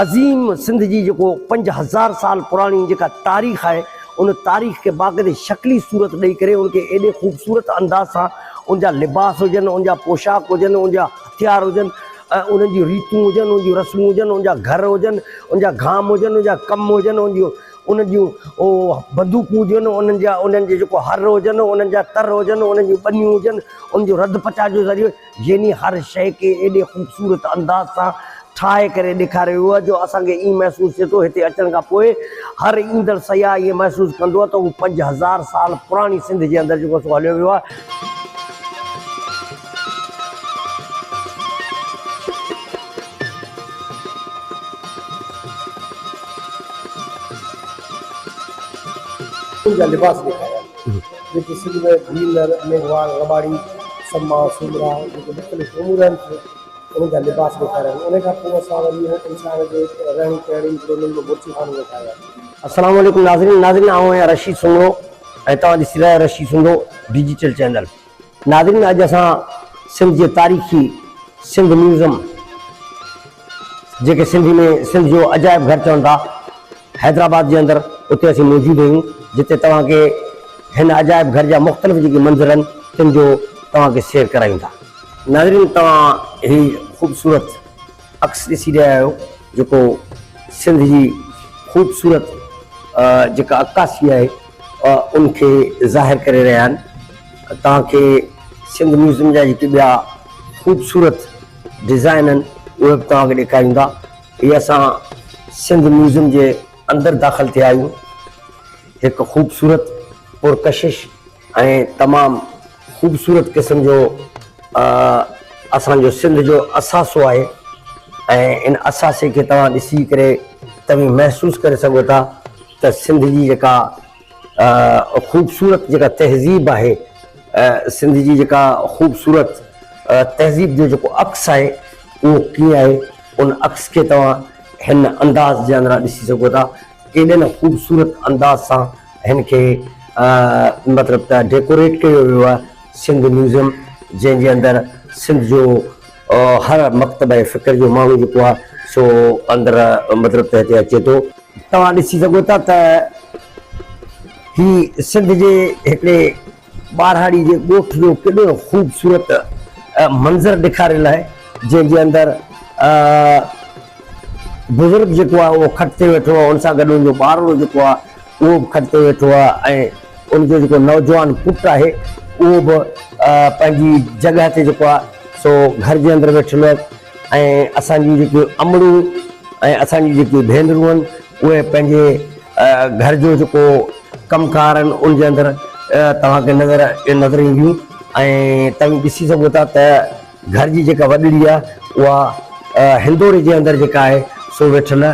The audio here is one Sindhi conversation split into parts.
عظيم سنڌ جي جيڪو پنج هزار سال پراڻي جيڪا تاريخ آهي ان تاريخ کي باقاعدي شڪلي صورت ڏئي ڪري ان کي ايڏي خوبصورت انداز سان ان جا لباس هجن ان جا پوشاڪ هجن ان جا هٿيار هجن انهن جون ريتون هجن ان جون رسمون هجن ان جا گهر هجن ان جا گام هجن ان جا ڪم هجن ان جون انهن جون بندوقون هجن انهن جا انهن جي جيڪو هر هجن انهن جا تر هجن انهن جون ٻنيون هجن ان جو رڌ پچاء جو ذريعو يعني هر شيء کي ايڏي خوبصورت انداز سان ٺاهي ڪري ڏيکاريو ويو آهي جو اسان کي ائين محسوس ٿئي ٿو هتي اچڻ کان پوء هر ايندڙ سياح ائين محسوس ڪندو ته هو پنج هزار سال پراڻي سنڌ جي اندر جيڪو سو هليو ويو آهي. ان جا لباس ڏيکاريا ويا. جيڪي سنڌ ۾ ڀيلر، ميگهواڙ، رٻاڙي، سما، سومرا جيڪي مختلف امور آهن سي انهن جا لباس ڏيکاريا آهن انهن کان پوء اسان وري انهن انسانن جي رهڻي ڪهڻي جي انهن جو مرثي خانو ڏيکاريو آهي. السلام عليڪم ناظرين ناظرين آئون آهيان رشيد سومرو ۽ توهان ڏسي رهيا آهيو رشيد سومرو ڊجيٽل چينل ناظرين اڄ اسان سنڌ جي تاريخي سنڌ ميوزم جيڪي سنڌي ۾ سنڌ جو عجائب گهر چون ٿا حيدرآباد جي اندر اتي اسين موجود آهيون جتي توهان کي هن عجائب گهر جا مختلف جيڪي منظر آهن تن جو توهان کي سير ڪرايون ٿا ناظرين توهان هي خوبصورت عڪس ڏسي رهيا آهيو جيڪو سنڌ جي خوبصورت جيڪا عڪاسي آهي ان کي ظاهر ڪري رهيا آهن توهان کي سنڌ ميوزيم جا جيڪي ٻيا خوبصورت ڊزائن آهن اهي به توهان کي ڏيکاريندا هي اسان سنڌ ميوزيم جي اندر داخل ٿيا آهيون هڪ خوبصورت پرڪشش ۽ تمام خوبصورت قسم جو اسان جو سنڌ جو اثاثو آهي ۽ ان اثاثي کي توهان ڏسي ڪري توهين محسوس ڪري سگهو ٿا ته سنڌ جي جيڪا خوبصورت جيڪا تهذيب آهي سنڌ جي جيڪا خوبصورت تهذيب جو جيڪو عڪس آهي اهو ڪيئن آهي ان عڪس کي توهان هن انداز جي اندران ڏسي سگهو ٿا. ڪيڏي نه خوبصورت انداز سان هن کي مطلب ته ڊيڪوريٽ ڪيو ويو آهي سنڌ ميوزيم جنهن جي اندر سنڌ جو هر مڪتبه فڪر جو ماڻهو جيڪو آهي سو اندر مطلب ته هتي اچي ٿو. توهان ڏسي سگهو ٿا ته هي سنڌ جي هڪڙي ٻاراڙي جي ڳوٺ جو ڪيڏو خوبصورت منظر ڏيکاريل آهي جنهن جي اندر بزرگ جيڪو آهي اهو کٽ تي ويٺو آهي ان سان گڏ ان جو ٻارڙو جيڪو آهي اهو به کٽ تي ويٺو آهي ۽ ان جو جيڪو نوجوان پٽ آهي اهو به پنهنجي جڳهه تي جيڪو آهي سو گهر جي اندر ويٺل آهي ۽ اسان جون جيڪي امڙون ۽ اسان جون جيڪي ڀينرون آهن اهي پنهنجي گهر جو جيڪو ڪم ڪار آهن ان جي اندر توهان کي نظر نظر اينديون ۽ توهان ڏسي سگهو ٿا ته گهر جي جيڪا وڏڙي آهي اها هندوري جي اندر جيڪا آهي سو ويٺل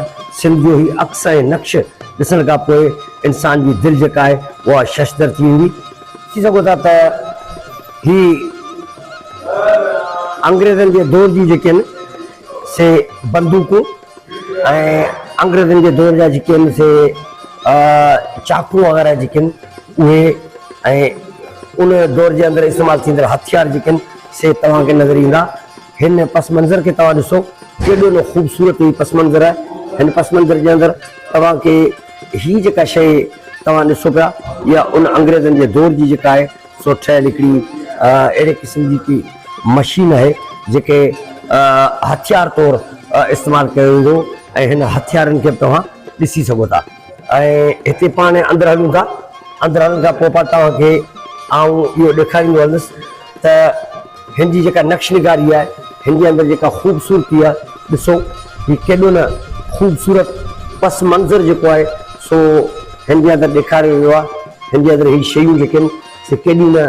سنڌ جو هي عڪس ۽ نقش ڏسڻ کان پوء انسان جي دل جيڪا آهي اها ششدر ٿي ويندي ڏسي سگهو ٿا ته هي انگريزن جي دور جي جيڪي آهن سي بندوقون ۽ انگريزن جي دور جا جيڪي آهن سي چاقو وغيره جيڪي آهن اهي ۽ ان دور جي اندر استعمال ٿيندڙ هٿيار جيڪي آهن سي توهان کي نظر ايندا هن پس منظر کي توهان ڏسو ڪيڏو نه خوبصورت هي پس منظر آهي هن پس منظر جي اندر توهان کي هي جيڪا شيء توهان ڏسو پيا يا ان انگريزن جي دور جي جيڪا آهي سو ٺهيل هڪڙي اهڙي قسم جي هڪ مشين آهي جيڪي هٿيار طور استعمال ڪيو ويندو ۽ هن هٿيارن کي به توهان ڏسي سگهو ٿا ۽ هتي پاڻ هاڻي اندر هلون ٿا اندر هلڻ کان پوء پاڻ توهان کي آئون اهو ڏيکاريندو هلندس ته هن جي جيڪا نقش نگاري آهي، هن جي اندر جيڪا خوبصورتي آهي، ڏسو هي ڪيڏو نه خوبصورت پس منظر جيڪو آهي سو هن جي اندر ڏيکاريو ويو آهي. هن جي اندر هي شيون جيڪي آهن سي ڪيڏيون نه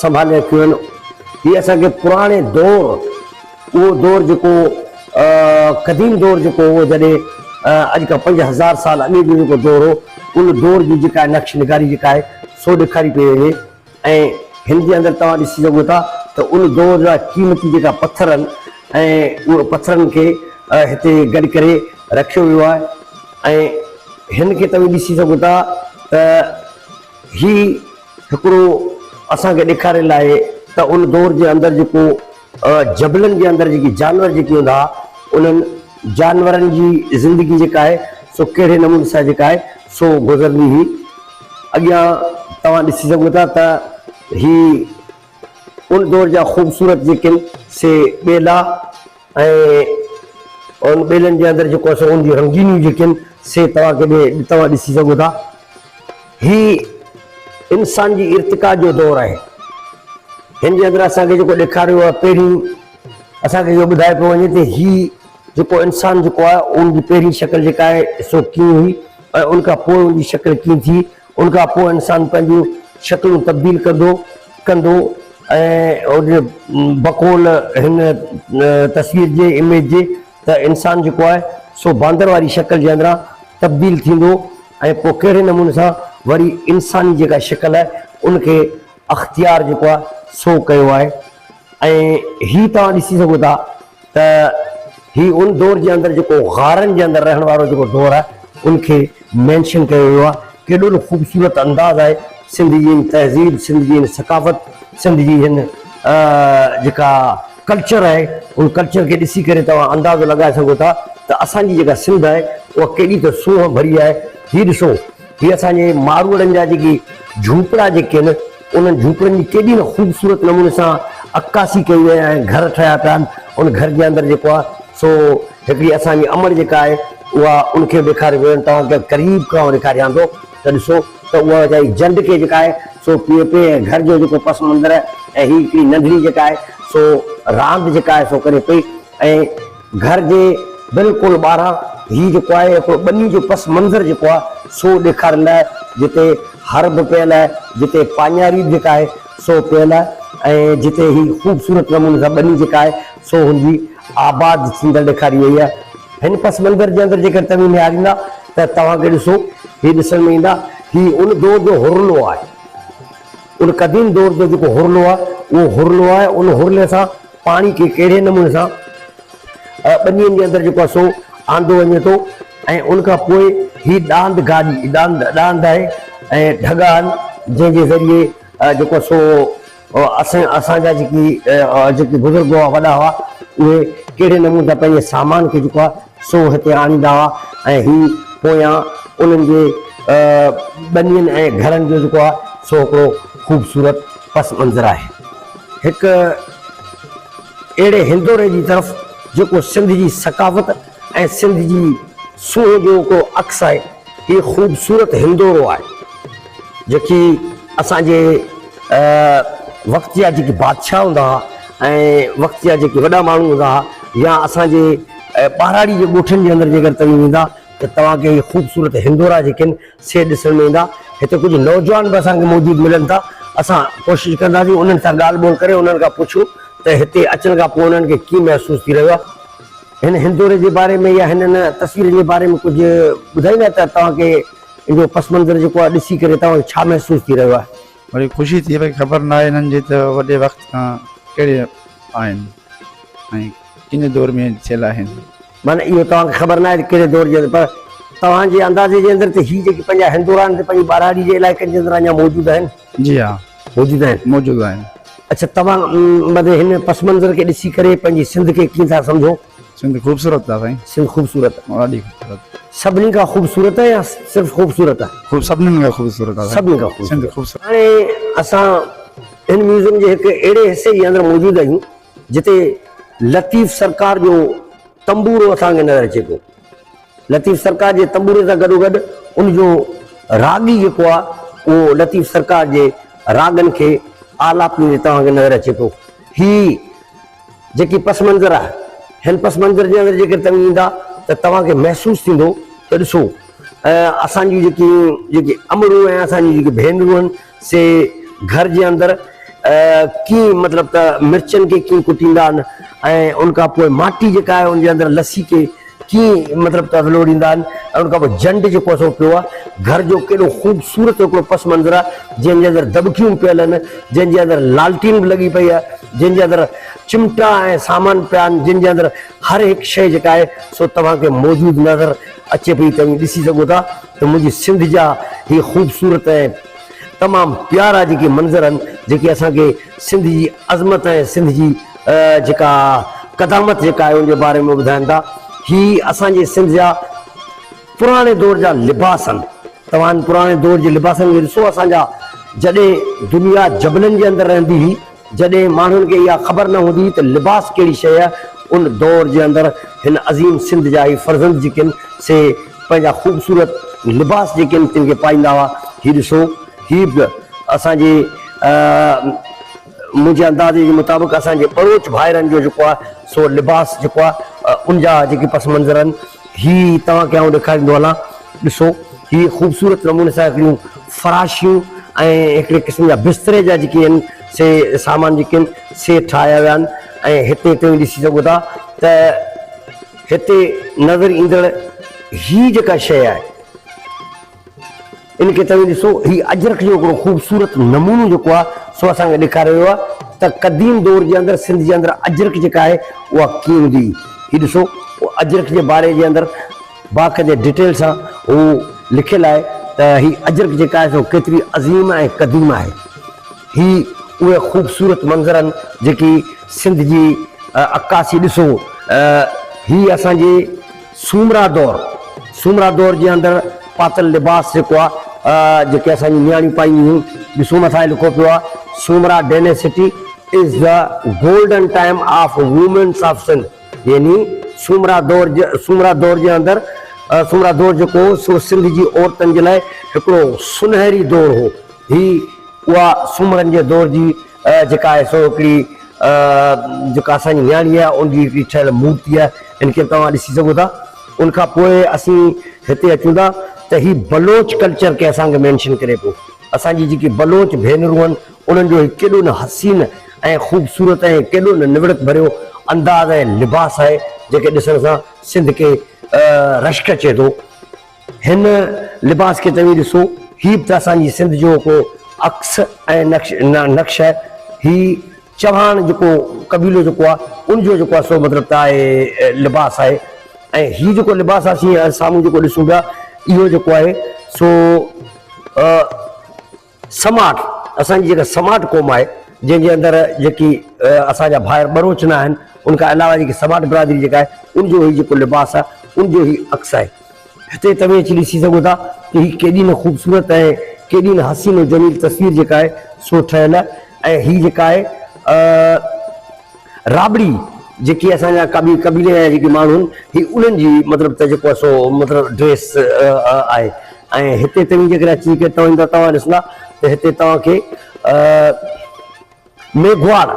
سنڀالي رکيون آهن. هي اسان کي پراڻي دور اهو دور جيڪو قديم دور جيڪو هو جڏهن اڄ کان پنج هزار سال اڳي جو جيڪو دور هو ان دور جي جيڪا نقش نگاري جيڪا آهي سو ڏيکاري پئي وڃي. ۽ هن جي اندر توهان ڏسي سگهو ٿا ته ان دور جا قيمتي جيڪا پٿر آهن ۽ اهي پٿرن کي هتي گڏ ڪري رکيو ويو آهي ۽ هن کي توهين ڏسي سگهو ٿا ته هي هڪڙو اسان کي ڏيکاريل آهي ته ان دور جي اندر جيڪو جبلن جي اندر جيڪي جانور جيڪي هوندا هئا انهن جانورن جي زندگي جيڪا آهي سو ڪهڙي نموني سان جيڪا آهي سو گذرندي هئي. اڳيان توهان ڏسي سگهو ٿا ته هي ان دور جا خوبصورت جيڪي آهن سي ٻيلا ۽ ان ٻيلن جي اندر جيڪو سو ان جون رنگينيون جيڪي آهن سي توهان کي توهان ڏسي سگهو ٿا. هي انسان جي ارتقا جو دور آهي. هن جي اندر اسان کي جيڪو ڏيکاريو ويو آهي پهرين اسان کي اهو ٻڌايو پيو وڃي ته هي جيڪو انسان جيڪو آهي ان جي پهرين شڪل جيڪا آهي سو ڪيئن هئي ۽ ان کان پوء ان جي شڪل ڪيئن ٿي ان کان پوء انسان پنهنجون شڪلون تبديل ڪندو ڪندو بقول هن تصوير جي اميج جي ته انسان جيڪو آهي سو باندر واري شڪل جي اندران تبديل ٿيندو ۽ پوء ڪهڙي نموني سان وري انساني جيڪا شڪل آهي ان کي اختيار جيڪو آهي سو ڪيو آهي ۽ هي توهان ڏسي سگهو ٿا ته هي ان دور جي اندر جيڪو غارن جي اندر رهڻ وارو جيڪو دور آهي ان کي مينشن ڪيو ويو آهي ڪيڏو نه خوبصورت انداز آهي سنڌ جي هن تهذيب سنڌ جي هن ثقافت سنڌ جي هن جيڪا ڪلچر آهي ان ڪلچر کي ڏسي ڪري توهان اندازو لڳائي سگهو ٿا ته اسان جي جيڪا سنڌ آهي اها ڪيڏي ته سونهن ڀري آهي هي ڏسو هي اسان جي ماروئڙن جا جيڪي جهوپڙا جيڪي آهن انهن جهوپڙن جي ڪيڏي نه خوبصورت نموني سان عڪاسي ڪئي وئي آهي ۽ گهر ٺهيا پيا آهن. ان گهر جي اندر جيڪو آهي سو هڪڙي اسان جي امڙ جيڪا آهي اها ان کي به ڏيکاريو ويو آهي. توهان کي قريب کان ڏيکاريان ٿو ته ڏسو ته اها ويچاري جنڊ کي جيڪا آهي سو پيئي پئي ۽ گهر جو جيڪو پس منظر آهي ۽ هي هڪڙي ننڍڙي جيڪا آهي سو راند جيڪا آهي سو ڪري پئي ۽ گهر جي بلڪل ٻاهران هي جيڪو آهي هڪڙو ٻني جو پس منظر جيڪو آهي سو ڏيکاريندو آهي جتي هر به پيل آهي جتي پاڃاري به جيڪا آهي سو پيل آهي ۽ جتي هي خوبصورت نموني سان ٻني جيڪا آهي سو هن جي آباد ٿيندڙ ڏيکاري وئي آهي هن پس منظر جي اندر جيڪر توهين نهاريندا ته توهان کي ڏسو هي ڏسڻ ۾ ايندا هي ان دور جو هرلو آهي ان قديم دور جو جيڪو هرلو آهي اهو هرلو آهي ان هرلي سان پاڻي کي ڪهڙي نموني سان ٻنين جي اندر جيڪو آهي سو آندو وڃي ٿو ۽ ان کان پوء هي ڏاند گاڏي ڏاند ڏاند آهي ۽ ڍڳا آهن جنهن جي ذريعي جيڪو سو اسان اسان جا جيڪي جيڪي بزرگ هئا وڏا هئا اهي ڪهڙي نموني سان پنهنجي سامان کي جيڪو آهي سو هتي آڻيندا هئا ۽ هي پويان انهن جي ٻنين ۽ گهرن جو جيڪو آهي سو هڪڙو خوبصورت پس منظر آهي. هڪ اهڙي هندوري جي طرف جيڪو سنڌ جي ثقافت ۽ سنڌ جي سونهن جو هڪڙو عڪس آهي. هي خوبصورت هندورو آهي جيڪي اسان جي وقت جا جيڪي بادشاهه هوندا هئا ۽ وقت جا جيڪي وڏا ماڻهو هوندا هئا يا اسان جي ۽ ٻهراڙي جي ڳوٺن جي اندر جيڪر توهين ويندا ته توهان کي هي خوبصورت هندورا جيڪي آهن سي ڏسڻ ۾ ايندا. هتي ڪجهه نوجوان به اسان کي موجود ملن ٿا. اسان ڪوشش ڪنداسين انهن سان ڳالهه ٻولهه ڪري انهن کان پڇون ته هتي اچڻ کان پوء انهن کي ڪيئن محسوس ٿي رهيو آهي. هن هندوري جي باري ۾ يا هنن تصويرن جي باري ۾ ڪجهه ٻڌائيندا ته توهان کي ان جو پس منظر جيڪو آهي ڏسي ڪري توهان کي ڇا محسوس ٿي رهيو آهي. وري خوشي ٿئي پئي خبر نه آهي هنن جي ته وڏي وقت کان ڪهڙي آهن ۽ ڪن دور ۾ ٿيل آهن. معنيٰ اهو توهان کي خبر نه آهي ته ڪهڙي دور جي اندر پر توهان جي اندازي جي اندر ته هي جيڪي پنهنجا هندور آهن سي پنهنجي ٻهراڙي جي علائقن جي اندر اڃا موجود آهن؟ جي ها موجود آهن. موجود آهن. اڇا توهان معنيٰ هن پس منظر کي ڏسي ڪري پنهنجي سنڌ کي ڪيئن ٿا سمجهو؟ سنڌ خوبصورت آ سائين. سنڌ خوبصورت آ. ڏاڍي خوبصورت. سڀني کان خوبصورت يا صرف خوبصورت آ. خوب سڀنن کان خوبصورت آ سائين. سڀني کان خوبصورت. سنڌ خوبصورت. هاڻي اسان هن ميوزيم جي هڪ اهڙي حصي جي اندر موجود آهيون جتي لطيف سرڪار جو تنبورو اسان کي نظر اچي پيو. لطيف سرڪار جي تنبوري سان گڏوگڏ ان جو راڳي جيڪو آهي اهو لطيف سرڪار جي راڳن کي آلاپيندي توهان کي نظر اچي پيو. هي جيڪي پس منظر آهي هن پس منظر جي اندر جيڪڏهن توهين ايندا ته توهان کي محسوس ٿيندو ته ڏسو اسان جون جيڪي جيڪي امڙون ۽ اسان جون جيڪي ڀينرون آهن سي گهر جي اندر ڪيئن مطلب ته مرچن کي ڪيئن ڪٽيندا آهن ۽ ان کان پوء ماٽي جيڪا آهي ان جي اندر لسي کي ڪيئن مطلب ته ولوڙيندا آهن ۽ ان کان پوء جنڊ جيڪو اسو پيو آهي گهر جو ڪيڏو خوبصورت هڪڙو پس منظر آهي جنهن جي اندر دٻڪيون پيل آهن جنهن جي اندر لالٽين به لڳي پئي آهي جنهن جي اندر چمٽا ۽ سامان پيا آهن جن جي اندر هر هڪ شيء جيڪا آهي سو توهان کي موجود نظر اچي پئي توهين ڏسي سگهو ٿا ته منهنجي سنڌ جا هي خوبصورت ۽ تمام پيارا جيڪي منظر آهن جيڪي اسان کي سنڌ جي عظمت ۽ سنڌ جي جيڪا قدامت جيڪا آهي ان جي باري ۾ ٻڌائن ٿا هي اسان جي سنڌ جا پراڻي دور جا لباس آهن توهان پراڻي دور جي لباسن کي ڏسو اسان جا جڏهن دنيا جبلن جي اندر رهندي هئي جڏهن ماڻهن کي اها خبر نه هوندي ته لباس ڪهڙي شيء آهي، ان دور جي اندر هن عظيم سنڌ جا هي فرزند جيڪي آهن، سي پنهنجا خوبصورت لباس جيڪي آهن، تن کي پائيندا هئا. هي ڏسو، هي به اسان جي منهنجي اندازي جي مطابق اسان جي ٻروچ ڀائرن جو جيڪو آهي، سو لباس جيڪو آهي، ان جا جيڪي پس منظر آهن، هي توهان کي آئون ڏيکاريندو هلان، ڏسو هي خوبصورت نموني سان هڪڙيون فراشيون ۽ هڪڙي قسم جا بستري جا جيڪي آهن سي سامان جيڪي آهن سي ٺاهيا ويا آهن ۽ هتي توهين ڏسي سگهو ٿا ته هتي نظر ايندڙ هي جيڪا شيء آهي. ان کي توهين ڏسو، هي اجرڪ جو هڪڙو خوبصورت نمونو جيڪو آهي سو اسان کي ڏيکاريو ويو آهي ته قديم دور جي اندر سنڌ جي اندر اجرڪ جيڪا آهي اها ڪيئن هوندي هئي. هي ڏسو اجرڪ جي باري جي اندر باقاعدي ڊيٽيل سان هو لکيل آهي ته هي اجرڪ جيڪا آهي سو ڪيتري عظيم ۽ قديم آهي. هي اهي خوبصورت منظر آهن جيڪي سنڌ جي عڪاسي ڏسو هي اسان جي سومرا دور، سومرا دور جي اندر پاتل لباس جيڪو آ جيڪي اسان جون نياڻيون پائينديون هيون ڏسو مٿان هي لکو پيو آ Soomra dynasty is the golden time of women's of Sindh يعني سومرا دور سومرا دور جي اندر سومرا دور جيڪو هو سو سنڌ جي عورتن جي لاء هڪڙو سنهري دور هو هي اها سومرن جي دور جي جيڪا آهي سو هڪڙي جيڪا اسان جي نياڻي آهي ان جي هڪڙي ٺهيل مورتي آهي ان کي به توهان ڏسي سگهو ٿا ان کان پوء اسين هتي اچون ٿا ته هي بلوچ ڪلچر کي اسان کي مينشن ڪري پيو اسان جي جيڪي بلوچ ڀينرون آهن انهن جو هي ڪيڏو نه حسين ۽ خوبصورت ۽ ڪيڏو نه نوڙت ڀريو انداز ۽ لباس آهي جنهن کي ڏسڻ سان سنڌ کي رشڪ اچي ٿو. هن لباس کي توهين ڏسو، هي به ته اسان جي سنڌ جو ڪو عڪس ۽ نقش آهي. هي چوهاڻ جيڪو قبيلو جيڪو آهي، ان جو جيڪو آهي سو مطلب ته آهي لباس آهي ۽ هي جيڪو لباس اسين سامهون جيڪو ڏسون پيا، اهو جيڪو آهي سو سماٽ، اسان جي جيڪا سماٽ قوم آهي، جنهن جي اندر جيڪي اسان جا ڀائر ٻروچ نه آهن، ان کان علاوه جيڪي سماٽ برادري جيڪا آهي، ان جو هي جيڪو لباس آهي، ان جو هي عڪس آهي. هتي توهين اچي ڏسي سگهو ٿا ته هي ڪيڏي نه خوبصورت ۽ ڪيڏي نه حسين و جميل تصوير جيڪا آهي سو ٺهيل ۽ هي جيڪا آهي رابڙي جيڪي اسان جا ڪابي قبيلي جا جيڪي ماڻهو آهن هي انهن جي مطلب ته جيڪو آهي سو مطلب ڊريس آهي ۽ هتي توهين جيڪڏهن اچي ڪري توهين ته توهان ڏسندا ته هتي توهان کي ميگهواڙ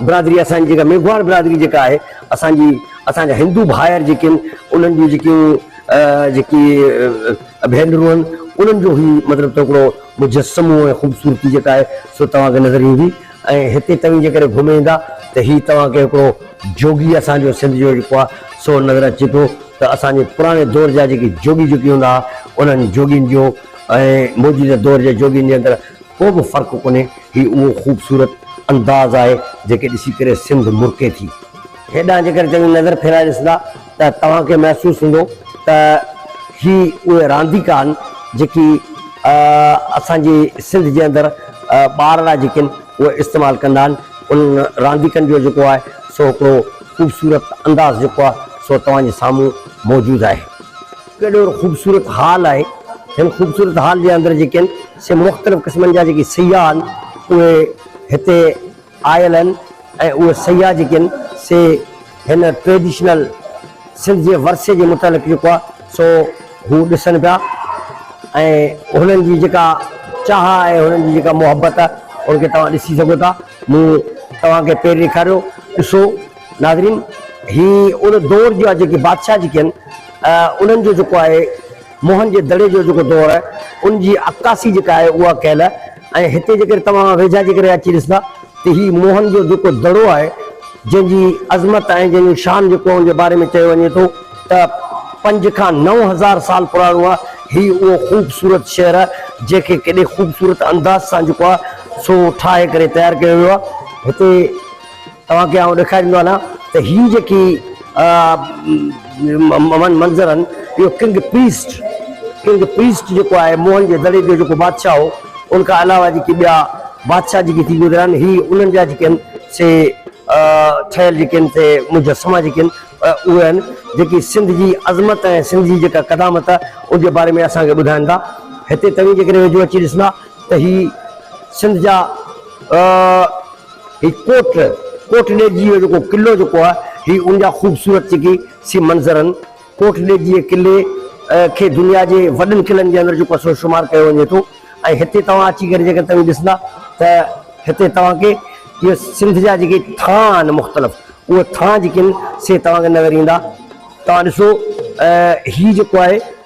برادري اسان جي جيڪا ميگهواڙ برادري جيڪا آهي اسان جي اسان جا هندو ڀائر جيڪي آهن انهن جون جيڪيون جيڪي ڀينرون آهن انهن جو هي مطلب ته هڪڙو مجسمو ۽ خوبصورتي جيڪا آهي سو توهان کي نظر ايندي ۽ هتي توهين جيڪڏهن گهمي ايندا ته هي توهان کي هڪڙو جوڳي اسان جو سنڌ جو جيڪو آ سو نظر اچي ٿو ته اسان جي پراڻي دور جا جيڪي جوڳي جوڳي هوندا ها انهن جوڳين جو ۽ موجوده دور جي جوڳين جي اندر ڪو به فرق ڪونهي هي اهو خوبصورت انداز آهي جيڪي ڏسي ڪري سنڌ مرڪي ٿي. هيڏانهن جيڪڏهن توهين نظر ڦيرائي ڏسندا ته توهان کي محسوس ٿيندو ته هي اهي رانديڪا آهن جيڪي اسان جي سنڌ جي اندر ٻار لاء جيڪي آهن اهي استعمال ڪندا آهن انهن رانديڪن جو جيڪو آهي سو هڪڙو خوبصورت انداز جيڪو آهي سو توهان جي سامهون موجود آهي. ڪيڏو خوبصورت هال آهي هن خوبصورت هال جي اندر جيڪي آهن سي مختلف قسمن جا جيڪي سياح آهن اهي هتي آيل آهن ۽ اهي سياح جيڪي آهن سي هن ٽريڊيشنل سنڌ جي ورثي جي متعلق جيڪو آهي سو هو ڏسن پيا ۽ هنن جي جيڪا چاهه آهي هنن جي جيڪا محبت آهي ان کي توهان ڏسي سگهو ٿا مون توهان کي پير ڏيکاريو ڏسو ناظرين هي ان دور جا جيڪي بادشاهه جيڪي آهن انهن جو جيڪو آهي موهن جي دڙي جو جيڪو دور آهي ان جي عڪاسي جيڪا آهي اها ڪيل آهي ۽ هتي جيڪڏهن توهان ويجها جي ڪري اچي ڏسندا ته هي موهن جو جيڪو دڙو آهي جنهن جي عظمت ۽ جنهن جو شان جيڪو ان جي باري ۾ چيو وڃي ٿو ته پنج کان نو هزار سال پراڻو آهي هي اهو خوبصورت شهر آهي جنهن کي ڪيڏي خوبصورت انداز سان جيڪو آهي سو ٺاهي ڪري تيار ڪيو ويو آهي هتي توهان کي آئون ڏيکاريندو آهيان ته هي جيڪي منظر آهن اهو ڪنگ پريسٽ ڪنگ پريسٽ جيڪو آهي موهن جي دڙي جو جيڪو بادشاهه هو ان کان علاوه جيڪي ٻيا بادشاهه جيڪي ٿي گذريا آهن هي انهن جا جيڪي آهن سي ٺهيل جيڪي آهن سي مجسما جيڪي آهن اهي آهن جيڪي سنڌ جي عظمت ۽ سنڌ جي جيڪا قدامت ان جي باري ۾ اسان کي ٻڌائن ٿا هتي توهين جيڪڏهن ويجهو اچي ڏسندا ته هي سنڌ جا هي ڪوٽ، ڪوٽ ڏيجي جو جيڪو قلعو جيڪو آ هي ان جا خوبصورت جيڪي سي منظر ان ڪوٽ ڏيجي قلعي کي دنيا جي وڏن قلعن جي اندر جيڪو آ سو شمار ڪيو وڃي ٿو ۽ هتي توهان اچي ڪري جيڪڏهن توهين ڏسندا ته هتي توهان کي اهي سنڌ جا جيڪي ٿانء آهن مختلف اهي ٿانء جيڪي ان سي توهان کي نظر ايندا توهان ڏسو هي جيڪو آهي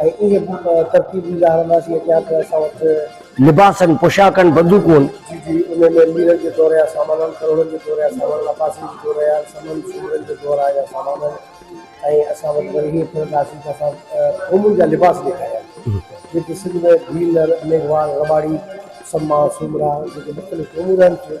۽ ايئن به ترتيب ڏيندا هلنداسين اڳيان ته اسان وٽ. لباسن، پوشاڪن، بندوقون. جي جي انهن ۾ ميرن جي دور يا سامانن، ڪروڙن جي دور يا سامانن، عباسين جي دور يا سمن، سومرن جي دور آهي يا سامانن ۽ اسان وٽ وري هيئن ڦرنداسين ته اسان قومن جا لباس ڏيکاريا جيڪي سنڌ ۾ ڀيل، ميگهواڙ، رٻاڙي، سما، سومرا جيڪي مختلف قومون رهن ٿيون.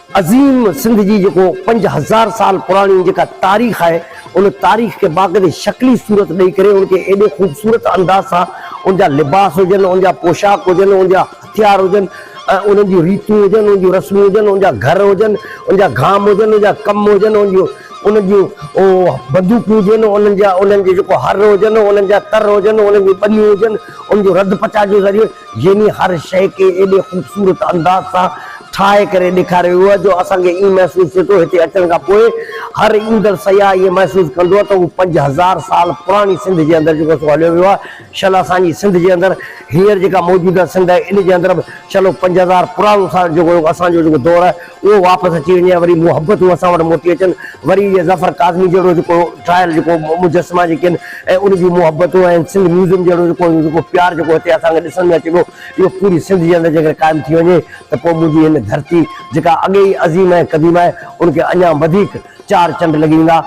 عظيم سنڌ جي جيڪو پنج هزار سال پراڻي جيڪا تاريخ آهي ان تاريخ کي باقاعدي شڪلي صورت ڏئي ڪري ان کي ايڏي خوبصورت انداز سان ان جا لباس هجن ان جا پوشاڪ هجن ان جا هٿيار هجن ۽ انهن جون ريتون هجن انهن جون رسمون هجن ان جا گهر هجن ان جا گهام هجن ان جا ڪم هجن ان جون انهن جون بندوقون هجن انهن جا انهن جي جيڪو هر هجن انهن جا تر هجن انهن جون ٻنيون هجن ان جو رڌ پچاء جو ذريعو يعني هر شيء کي ايڏي خوبصورت انداز سان ٺاهي ڪري ڏيکاريو ويو آهي جو اسان کي ائين محسوس ٿئي ٿو هتي اچڻ کان پوء هر ايندڙ سياح ائين محسوس ڪندو ته هو پنج هزار سال پراڻي سنڌ جي اندر جيڪو سو هليو ويو آهي شل اسان جي سنڌ جي اندر هينئر جيڪا موجوده سنڌ آهي ان جي اندر به شل پنج هزار پراڻو سال جيڪو اسان جو جيڪو دور آهي اهو واپس اچي وڃي ۽ وري محبتون اسان وٽ موٽي اچن، وري اهي ظفر ڪاظمي جهڙو جيڪو ٽرائل جيڪو مجسما جيڪي آهن ۽ ان جون محبتون ۽ سنڌ ميوزيم جهڙو جيڪو جيڪو پيار جيڪو هتي اسان کي ڏسڻ ۾ اچي پيو، اهو پوري سنڌ جي اندر جيڪڏهن قائم ٿي وڃي ته پوء منهنجي هن ڌرتي جيڪا اڳي ئي عظيم ۽ قديم آهي، ان کي اڃا وڌيڪ چار چنڊ لڳي ويندا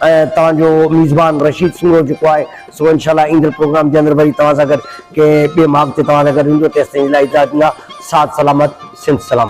۽ توهان جو ميزبان رشيد سومرو جيڪو آهي سو انشاء الله ايندڙ پروگرام جي اندر وري توهان سان گڏ ڪنهن ٻئي ماڳ تي توهان سان گڏ هوندو، تيسين جي لاء اجازت ڏيندا، ساٿ سلامت، سنڌ سلامت.